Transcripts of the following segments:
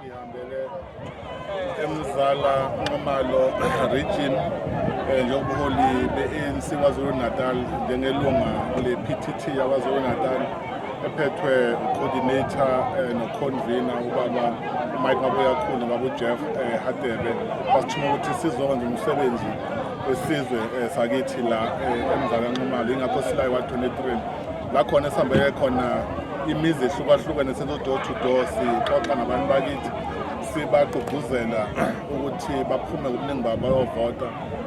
sihambele emzala nxumalo region eh, njengobuholi be-anc kwazulu natal njengelunga le-ptt yakwazulu natal ephethwe ucoordinator eh, noconvener ubaba umike mabuyakhulu babujeff eh, hadebe basithuma ukuthi sizokwenza umsebenzi wesizwe sakithi la emzala nxumalo yingakho silayi wa-23 la khona esihambeke khona imizi ehlukahlukene senzo door to door sixoxa nabantu bakithi sibagqugquzela ukuthi baphume ngobuningi babo bayovota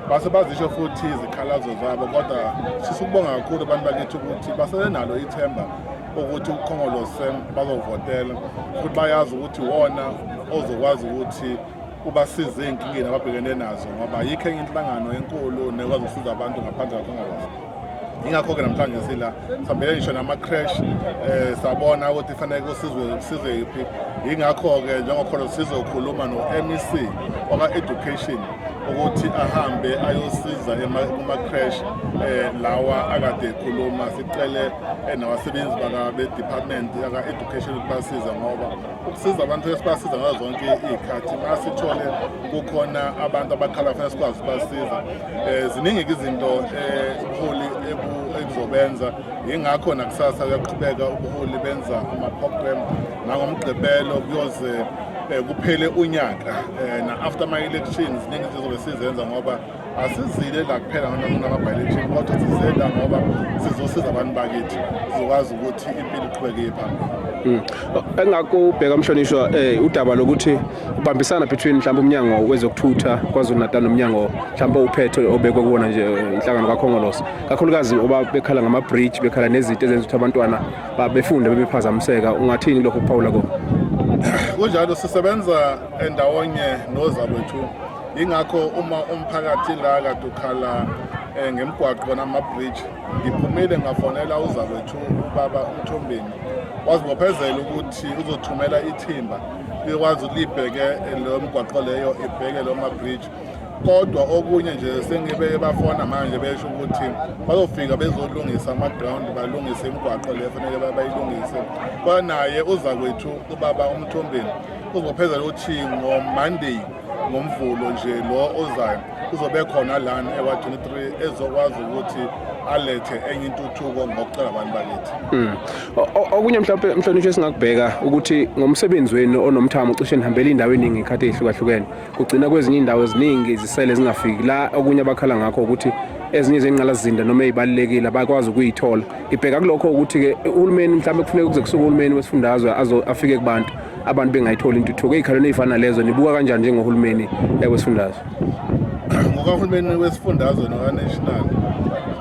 base bazisho futhi izikhalazo zabo kodwa sifisa ukubonga kakhulu abantu bakithi ukuthi basenalo ithemba ukuthi ukhongolose bazovotela futhi bayazi ukuthi wona ozokwazi ukuthi ubasize ey'nkingeni ababhekene nazo ngoba yikho enye inhlangano enkulu nekwazi ukusiza abantu ngaphandle kakhongolose ingakho-ke namhlanje sila sihambele ngisho nama-crash um eh, sabona ukuthi fanele kusizwe kusizwe yiphi yingakho-ke njengokhona sizokhuluma no-mec waka-education ukuthi ahambe ayosiza kuma-crash um eh, lawa akade ekhuluma sicele eh, nabasebenzi baka-department yaka-education ukuthi basize ngoba ukusiza abantu esibasiza ngazo zonke iy'khathi uma sithole kukhona abantu abakhala fanele sikwazi ukubasiza um ziningi-ke izinto ubuholi ekuzobenza yingakho nakusasa kuyaqhubeka ubuholi benza ama-program nangomgqibelo kuyoze um kuphele unyaka um na-after ama-elections ziningi izinto zobe sizenza ngoba asizile la kuphela noma kunama-bilection kodwa size la ngoba sizosiza abantu bakithi sizokwazi ukuthi impilo iqhubekeye phambili hmm. engakho ubheka mhlonishwa um eh, udaba lokuthi ubambisana between mhlawumbe umnyango wezokuthutha kwazulu natal nomnyango mhlawumbe uphethe obekwe kuwona nje eh, inhlangano kakhongolosi kakhulukazi oba bekhala ngama-bridge bekhala nezinto ezenza ukuthi abantwana babefunde bebephazamiseka ungathini lokho kuphawula kona kunjalo sisebenza endawonye nozabethu yingakho uma umphakathi la kade ukhala um ngemgwaqo bona ama-bridge ngiphumile ngafonela uzakwethu ubaba umthombeni wazibophezela ukuthi uzothumela ithimba likwazi ukuthi libheke eh, leyo mgwaqo leyo ibheke leyo ma-bridge kodwa okunye nje sengibe bafona manje besho ukuthi bazofika bezolungisa ama-ground balungise imigwaqo le fanele bayilungise kwanaye uzakwethu ubaba umthombeni uzophezela ukuthi ngomonday ngomvulo nje lo ozayo uzobe khona lana ewa-23 ezokwazi ukuthi alethe enye intuthuko ngokucela abantu bakithi hmm. okunye mhlawumpe mhlonishwa esingakubheka ukuthi ngomsebenzi wenu onomthamo cishe nihambela indawo eningi ikhathi eyihlukahlukene kugcina kwezinye indawo eziningi izisele zingafiki la okunye abakhala ngakho ukuthi ezinye zengqalazinda noma ezibalekile abakwazi ukuyithola ibheka kulokho ukuthi ke uhulumeni mhlawumbe kufuneka kuze kusuke uhulumeni wesifundazwe afike kubantu abantu bengayitholi intuthuko ey'khalweni ey'fana lezo nibuka kanjani njengohulumeni wesifundazwe ngokahulumeni wesifundazwe nokaNational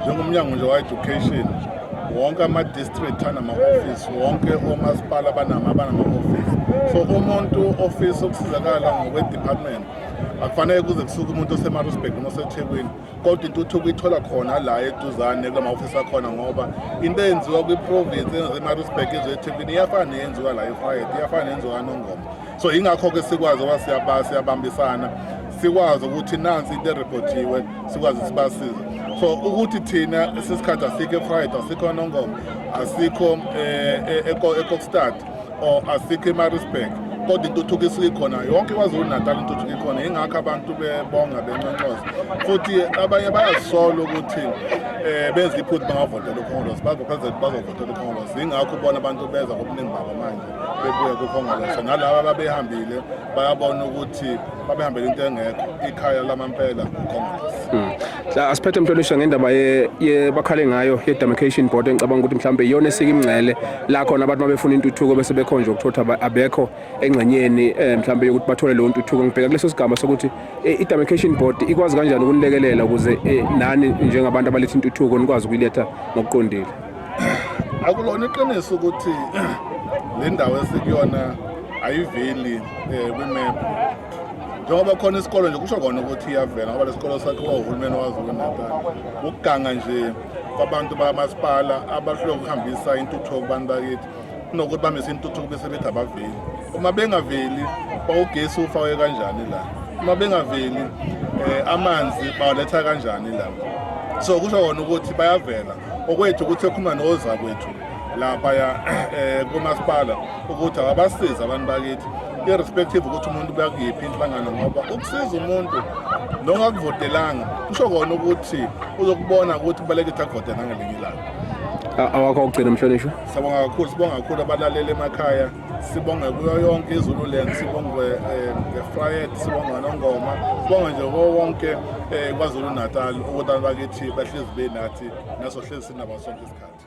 njengomnyango nje wa-education wonke ama-district anama-ofisi wonke omasipala abanama-ofisi so umuntu ofisa ukusizakala ngokwe-department akufanele kuze kusuke umuntu osemarusburg noma osethekwini kodwa intuthuko ithola khona la eduzane kula ma-ofisi akhona ngoba into eyenziwa kwiprovinsi eyenziwa emarisburg ezethempini iyafana neyenziwa la efrayet iyafana neyenziwa kanongoma so yingakho-ke sikwazi oba siyabambisana sikwazi ukuthi nansi into erephothiwe sikwazi sibasize so ukuthi thina sisikhathi asikho efrayed asikho nongoma asikho um eh, eh, ekokstad or asikho emarisburg kodwa intuthuko isuke khona yonke kwazulu natal intuthuko ikhona ingakho abantu bebonga benconcoza futhi abanye bayazisola ukuthi um benza iphutha bangavotela ukhongolose bazophezela bazovotela ukhongolose yingakho ubona abantu beza ngobuningi babo manje bebuye kukhongolose nalaba ababehambile bayabona ukuthi babehambele into engekho ikhaya lamampela ukhongolose hmm. La asiphethe mhlonishwa ngendaba ye, ye bakhale ngayo ye demarcation board engicabanga ukuthi mhlawumbe iyona esika imngcele la khona abantu mabefuna intuthuko bese bekhonje ukuthotha aba- abekho engxenyeni eh, mhlawumbe yokuthi bathole leyo ntuthuko ngibheka kuleso sigaba sokuthi eh, i demarcation board ikwazi kanjani ukunilekelela ukuze eh, nani njengabantu abaletha intuthuko nikwazi ukuyiletha ngokuqondile akulona iqiniso ukuthi le ndawo esikuyona ayiveli um kwimephu njengoba khona isikole nje kusho kona ukuthi iyavela ngoba lesikole sakhiwa uhulumeni waZulu-Natal ukuganga nje kwabantu bakamasipala abahlule ukuhambisa intuthuko kubantu bakithi kunokuthi bamise intuthuko bese bethi abaveli uma bengaveli bawugesi ufakwe kanjani la uma bengaveli um amanzi bawaletha kanjani la so kusho kona ukuthi bayavela okwethu ukuthi ekhuluma nozakwethu laphaya um kumasipala ukuthi awabasize abantu bakithi irrespective ukuthi umuntu kuyakuyiphi inhlangano ngoba ukusiza umuntu nongakuvotelanga kusho kona ukuthi uzokubona ukuthi kubalekile akuvote nangelinye ilanga awakho okugcina mhlonishwa siyabonga kakhulu sibonga kakhulu abalaleli emakhaya sibonge kuyo yonke izululand sibonge eh, ngefriet sibonge nongoma sibonge nje ko wonke eh, kwazulu natal ukuthi abantu bakithi bahlezi benathi naso hlezi sinabo sonke isikhathi